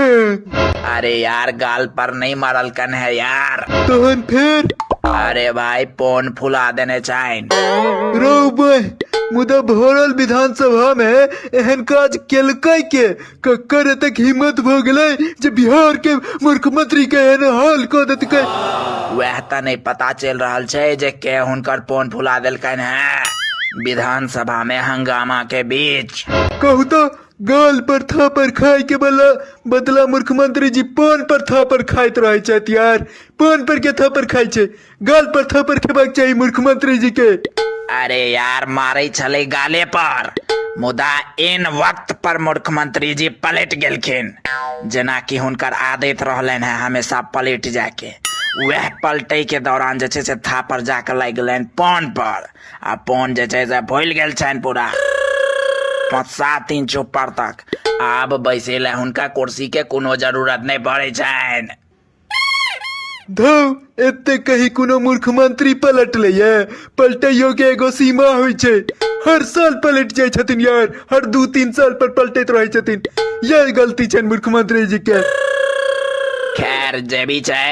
अरे यार गाल पर नहीं मारल कन है यार तहन फेर अरे भाई पोन फुला देने चाइन रौ बह मुदा भरल विधानसभा में एहन काज केलकै के ककर एतेक हिम्मत भऽ गेलै जे बिहार के मुख्यमंत्री के एहन हाल कऽ देतकै वह तो नहीं पता चल रहल छै जे के हुनकर पोन फुला देलकन है विधानसभा में हंगामा के बीच कहू तऽ गाल पर थापर खाय के बला बदला मुख्यमंत्री जी पान पर थापर खाइत रहे छथि यार पान पर के थापर खाय छै गाल पर थापर खेबाक चाही मुख्यमंत्री जी के अरे यार मारे छले गाले पर मुदा इन वक्त पर मुख्यमंत्री जी पलट गेलखिन जेना कि हुनकर आदत रहलनि है हमेशा पलट जाके वह पलटे के दौरान जे छै से थापर जाके लागि गेलनि पान पर आ फोन जे छै से फुलि गेल छनि पूरा पाँच सात दिन चुप तक आब बैसे लए हुनका कुर्सी के कोनो जरूरत नहि पड़ै छनि धौ एते कही कोनो मूर्ख मंत्री पलटले ये पलटैयो के एगो सीमा होइ छै हर साल पलट जाइ छथिन यार हर दू तीन साल पर पलटैत रहै छथिन यह गलती छनि मूर्ख मंत्री जी के खैर जे भी छै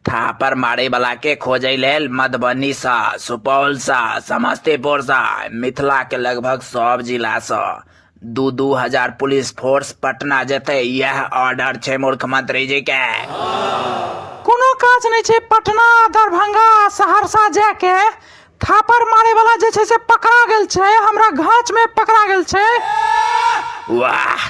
थापर मारयवलाके खोजय लेल मधुबनीसँ सुपौलसँ समस्तीपुरसँ मिथिलाके लगभग सभ जिलासँ दू दू हजार पुलिस फोर्स पटना जेतै इएह ऑर्डर छै मुख्यमंत्रीजीके कोनो काज नहि छै पटना दरभंगा सहरसा जायके थापर मारयवला जे छै से पकड़ा गेल छै हमरा घाँचमे पकड़ा गेल छै वाह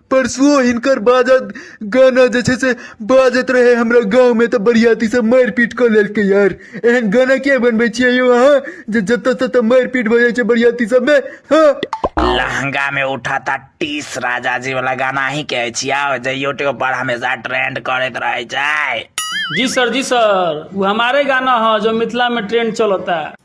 परसुओ हिनकर बाजत गाना जे छै से बाजत रहै हमरा गाँवमे तऽ बरियातीसँ मारि पीट कऽ लेलकै यार एहन गाना किया बनबै छियै यौ अहाँ जे जतऽ ततऽ मारि पीट भऽ जाइ छै बरियाती सबमे हँ लहंगा में उठा था टीस राजा जी वाला गाना ही के अछि आओ जे यूट्यूब पर हमेशा ट्रेंड करैत रहे छै जी सर जी सर वो हमारे गाना है जो मिथिला में ट्रेंड चलता है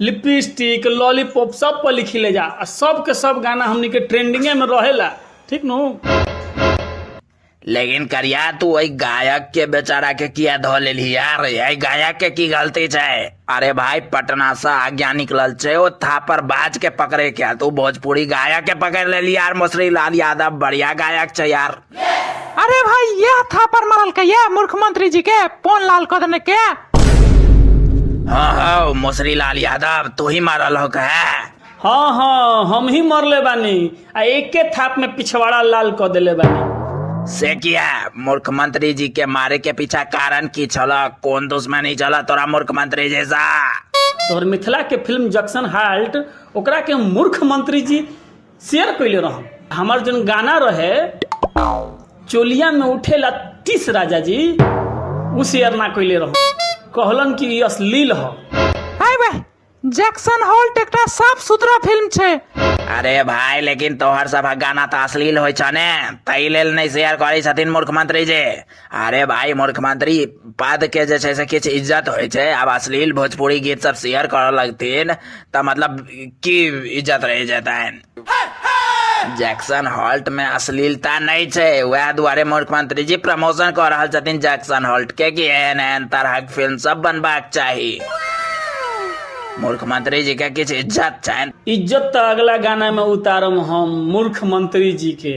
लिपस्टिक लॉलीपॉप सब पर लिखी ले जा आ सब के सब गाना हमनी के ट्रेंडिंगे में रहेला ठीक नु लेकिन करिया तू ओहि गायक के बेचारा के किया धो लेली यार यही गायक के की गलती छै अरे भाई पटना से आज्ञा निकलल छै ओ थापर बाज के पकड़े के तू भोजपुरी गायक के पकड़ लेली यार मसरी लाल यादव बढ़िया गायक छै यार अरे भाई यह थापर मारल के ये मुख्यमंत्री जी के पोन लाल कर देने के हाँ हाँ मोसरी लाल यादव तू ही मारल हो का हाँ हाँ हम ही मरले बानी आ एके थाप में पिछवाड़ा लाल क देले बानी से किया मुख्यमंत्री जी के मारे के पीछा कारण की छल कौन दुश्मनी चल तोरा मुख्यमंत्री जैसा तोहर मिथिला के फिल्म जंक्शन हाल्ट ओकरा के मूर्ख मंत्री जी शेयर कैले रहम हमार जन गाना रहे चोलिया में उठेला तीस राजा जी उ शेयर ना कैले रहम कहलन कि ई अश्लील ह हाय बे जैक्सन होल्ट एकटा साफ सुथरा फिल्म छै अरे भाई लेकिन तोहर सब गाना तो अश्लील होइ छ ने ताहि लेल नहीं शेयर करै छथिन मूर्ख मंत्री जी अरे भाई मुख्यमंत्री पद के जे छै से किछु इज्जत होइ छै आब अश्लील भोजपुरी गीत सब शेयर करऽ लगथिन तऽ मतलब की इज्जत रह जेतनि जैक्सन हॉल्ट में अश्लीलता नहीं छै वएह दुआरे मुख्यमंत्री जी प्रमोशन कऽ रहल छथिन जैक्सन हॉल्ट के कि एहन एहन तरहक फिल्म सब बनबाक चाही मुख्यमंत्री जी के किछु इज्जत छनि इज्जत तऽ अगला गाना में उतारम हम मूर्ख मंत्री जी के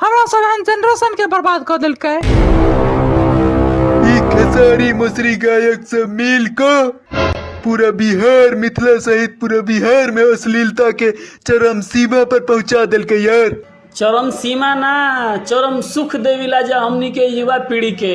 हमरा सब एहन जनरेशन के बर्बाद कर देलकै ई खेसारी मसरी गायक से मिल क पूरा बिहार मिथिला सहित पूरा बिहार में अश्लीलता के चरम सीमा पर पहुंचा देलके यार चरम सीमा ना चरम सुख देविला जा हमनी के युवा पीढ़ी के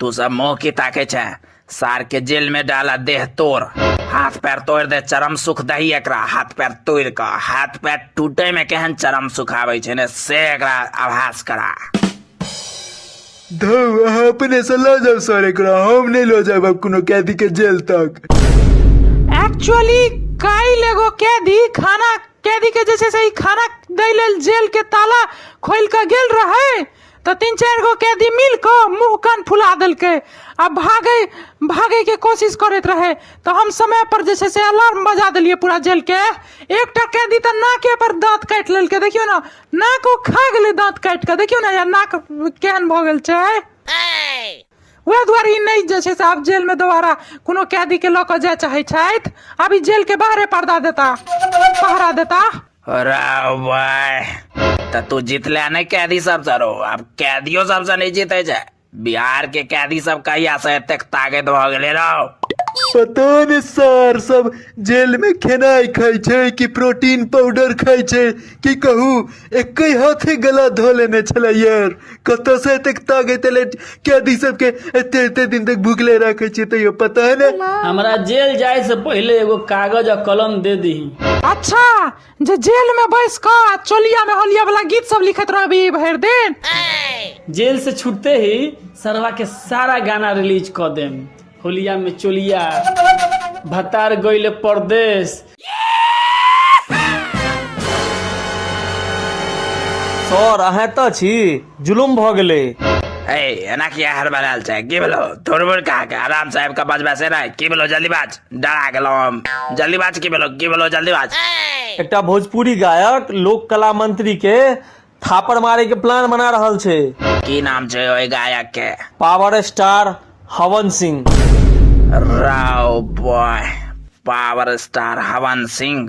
तू सब मुंह की ताके छे सार के जेल में डाला देह तोड़ हाथ पैर तोड़ दे चरम सुख दही एकरा हाथ पैर तोड़ के हाथ पैर टूटे में केहन चरम सुख आवे छे ने से एकरा आभास करा धौ अहाँ अपने से लऽ जाउ सर एकरा हम नहि लऽ जायब आब कोनो कैदी के जेल तक एक्चुअली काल्हि एगो कैदी खाना कैदी के जे छै से ई खाना दै लेल जेल के ताला खोलि कऽ गेल रहै तऽ तीन चारि गो कैदी मिल कऽ मुँह कान फुला देलकै आ भागै भागैके कोशिश करैत रहै तऽ हम समय पर जे छै से अलार्म बजा देलियै पूरा जेलके एकटा कैदी तऽ नाके पर दाँत काटि लेलकै देखियौ ने नाक ओ खा गेलै दाँत काटि कऽ देखियौ ने या नाक केहन भऽ गेल छै वएह दुआरे ई नहि जे छै से आब जेलमे दोबारा कोनो कैदीके लऽ कऽ जाय चाहै छथि आब ई जेलके बाहरे पर्दा देता पहरा देता राव भाय तऽ तू जितले नहि कैदी सब सर आब कैदियो सब से नहि जीते छै बिहार के कैदी सब कहिया से एतेक ताकत भऽ गेले रहो पता ने सर सब जेल में खेनाई खाई छै कि प्रोटीन पाउडर खाई छै कि कहू एक हाथे गला धो लेने छलै यार कतऽसँ एतेक तागैत एलै कैदी सबके एते एते दिन तक भुगले राखै छियै तैयो पता नहि हमरा जेल जाए से पहिले एगो कागज आ कलम दे दही अच्छा जे जेल में बैस कऽ आ चोलिया में होलिया वाला गीत सब लिखत रहबी भरि दिन जेल से छूटते ही सरवा के सारा गाना रिलीज क देम होलिया में चोलिया भतार गईले परदेश सर अहाँ एतऽ छी जुलुम भऽ गेलै ए एना किया हर बनाल छै की भेलो तोर बोल कहा के आराम से आबि के बजबा से रह की भेलो जल्दी बाज डरा गेलो हम जल्दी बाज की भेलो की भेलो जल्दी बाज एकटा भोजपुरी गायक लोक कला मंत्री के थापड़ मारे के प्लान बना रहल छै की नाम छै ओहि गायक के पावर स्टार हवन सिंह राव boy power star Havan Singh